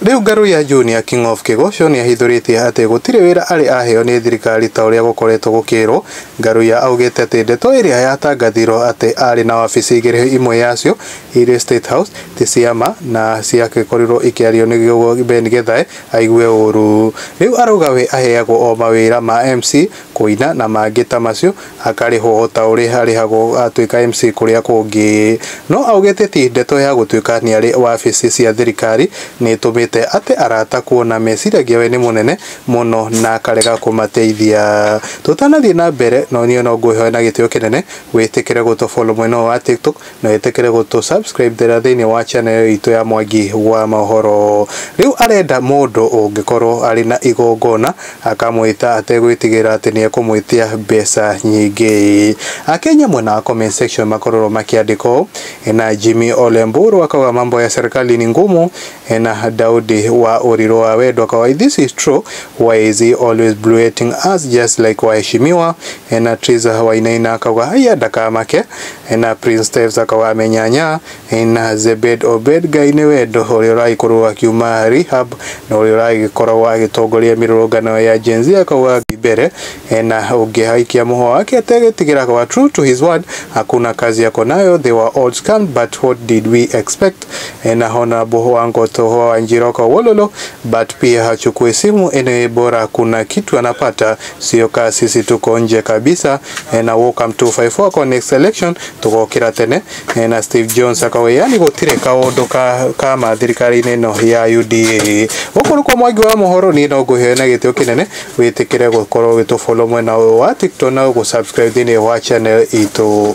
Rĩu Ngaruiya Junior, King of Kĩgũcũ, nĩahithũrĩtie atĩ gũtirĩ wĩra arĩ aheo nĩ thirikari ta ũrĩa gũkoretwo gũkĩĩrwo. Ngaruiya augĩte atĩ ndeto ĩrĩa yatangathirwo atĩ arĩ na wabici igĩrĩ imwe yacio irĩ State House ti cia ma na ciagĩkorirwo ikĩario nĩ Ben Githae aigue ũũru. Rĩu arauga we aheagwo o mawĩra ma MC kũina na mangĩ ta macio akarĩhwo ota ũrĩa arĩhagwo atuĩka MC kũrĩa kũngĩ. No augĩte ti ndeto ya gũtuĩka nĩarĩ wabici cia thirikari nĩtũmĩte ate arata kuona meciragia we nĩ mũnene mũno na akarega kũmateithia. Tũtanathiĩ na mbere no niĩ no ngwĩhoe na gĩtĩo kĩnene wĩtĩkĩre gũtũ follow mwena ũyũ wa TikTok na wĩtĩkĩre gũtũ subscribe thera thĩinĩ wa channel itũ ya Mwangi wa Mohoro. Rĩu arenda mũndũ ũngĩkorwo arĩ na igongona akamwĩta ategwĩtigĩra atĩ nĩ ekũmwĩtia mbeca nyingĩ. Akenya mwena wa comment section makororwo makĩandĩka ũũ, na Jimmy Ole Mburu akauga mambo ya serikali ni ngumu, na Daudi wa Ũrirũ wa Wendo akauga if this is true why is he always blueting us just like waheshimiwa, na Triza Wainaina akauga haiya ndakamake Ena Prince Steph Saka wa Amenyanya, ena Zebed Obed Ngai nĩ wendo ũrĩa ũragĩkorwo akiuma Rehab na ũrĩa ũragĩkoragwo agĩtongoria mĩrũrũngano ya Gen Z akauga Ngai mbere, ena ũngĩ aikia mũhwa wake ategĩtigĩra akawa true to his word hakuna kazi yako nayo they were all scammed but what did we expect, ena Honorable wa Ngoto Hua wa Njiro akawa wololo but pia hachukui simu anyway bora kuna kitu anapata sio kaa sisi tuko nje kabisa eh, na Wokam 254 akao next election tugokira tene eh, na Steve Jones akao yani gutire kaundu ka kama thirikari-inĩ ĩno ya UDA guku nikuo mwangi wa mohoro niĩ no ngũhe na gĩtĩo kĩnene wĩtĩkĩre gũkorwo ũgĩtũfollow mwena ũyũ wa TikTok na gũsubscribe thĩinĩ wa channel itũ